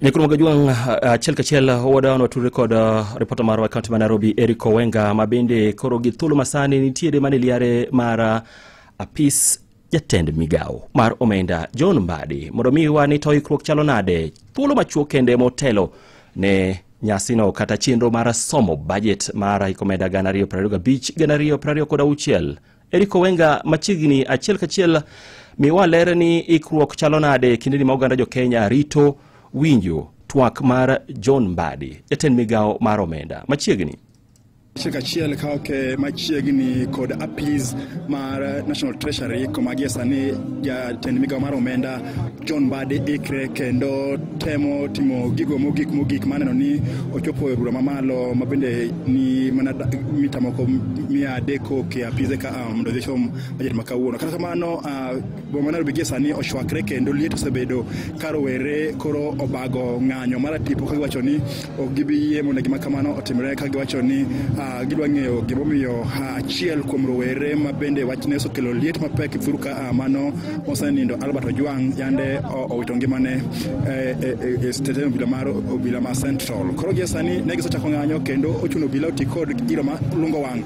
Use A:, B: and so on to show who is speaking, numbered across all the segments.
A: ne kuom gajuang achiel kachiel wadawano watudre kod uh, ripota marwa e kaunti ma nairobi eric owenga ma bende koro gi thuolo masani nitiere mane liare mar uh, apis jatend migawo mar omenda john mbadi mondo mi wani to ikruok chalo nade thuolo machuok kende motelo ne nyasino kata chenro mar somo bajet mar hik omenda gana ariyo prariyo gabich gana ariyo prariyo kod auchiel Eric Owenga machiegni achiel kachiel miwa ler ni ikruok chalo nade kindeni ma oganda jo-Kenya rito winjo twak mar John Mbadi, jatend migawo mar omenda machiegni. Chik achiel ka ok machiegni kod apis mar National Treasury kuma gie sani jatend migawo mar omenda John Badi ikre kendo temo timo gigo mogik mogik maneno ni ochopo e bura mamalo ma bende ni mana da- mita moko mia adek kok e apise ka ah, mondo odhi chom bajet ma kawuono kata kamano ah, boma ma Nairobi gie sani ochwakre kendo liet osebedo ka rowere koro obago ng'anyo mar tipo ka giwacho ni ok gibi yie mondo gima kamano otimre ka giwacho ni uh, gidwa ng'eyo gimomiyo uh, achiel kuom rowere ma bende wachne osekelo liet mapek thuru ka uh, mano mosenindo albert ojwang yande owito ngimane e, e, e, e stesen obila mar obila ma central koro gie sani ne gisechako ng'anyo kendo ochuno obila oti kod iro ma lungo wang'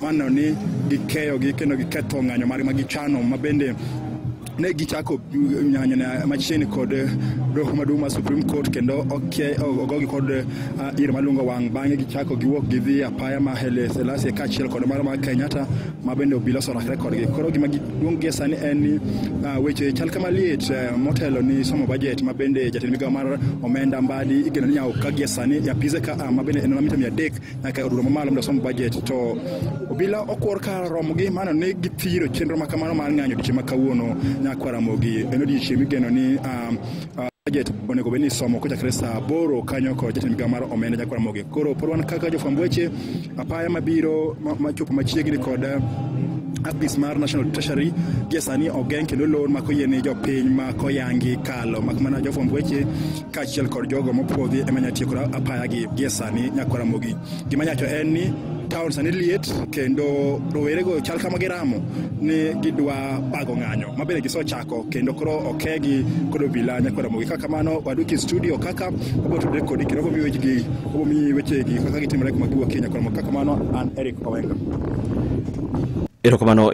A: maneno ni gikeyogi kendo giketho ng'anyo margi ma gichano ma bende ne gichako nyanyo na machiegni kod doho maduong' mar Supreme Court kendo oke- o- ogogi kod ah, iro malungo wang' bang'e gichako giwuok gidhi apaya ma Haile Selassie kaachiel kod mara mar Kenyatta ma bende obila osorakre kodgi koro gima giduong' gie sani en ni ah, weche chal kama liet eh, motelo ni somo budget ma bende jatend migawo mar omenda mbadi igeno ni nyaka gie sani e apise ka ah, ma bende en mamita mia adek nyaka odulo mamalo mondo osom bajet to obila okwor kar romogi mano ni githiro chenro ma kamano mar ng'anyo odiechieng' ma kawuono nyakwa ramogi en odiechieng' migeno ni um, uh, budget onego bed ni isomo kochakre saa aboro kanyo kod jatend migawo mar omenda nyakwa ramogi koro pod wan kaka jofwamb weche apaya mabiro ma- machopo machiegni kod uh, apis mar national treasury gie sani ogeng kendo lor ma koyie ni jopiny ma koyangi kalo mak mana jofwamb weche kaachiel kod jogo mopwodhi ema nya tieko apayagi gie sani nyaka ramogi gima nyacho en ni taon sani liet kendo rowerego chal kama giramo ni gidwa bago ng'anyo ma bende gisechako kendo koro okegi kod obila nyaka ramogi kaka kamano waduki e studio kaka wabotudre kodi kendo wabomi wechegi wabomi wechegi kaka gitimore kuma giwuokie nyaka ramogi kaka kamano an eric owenga erokamano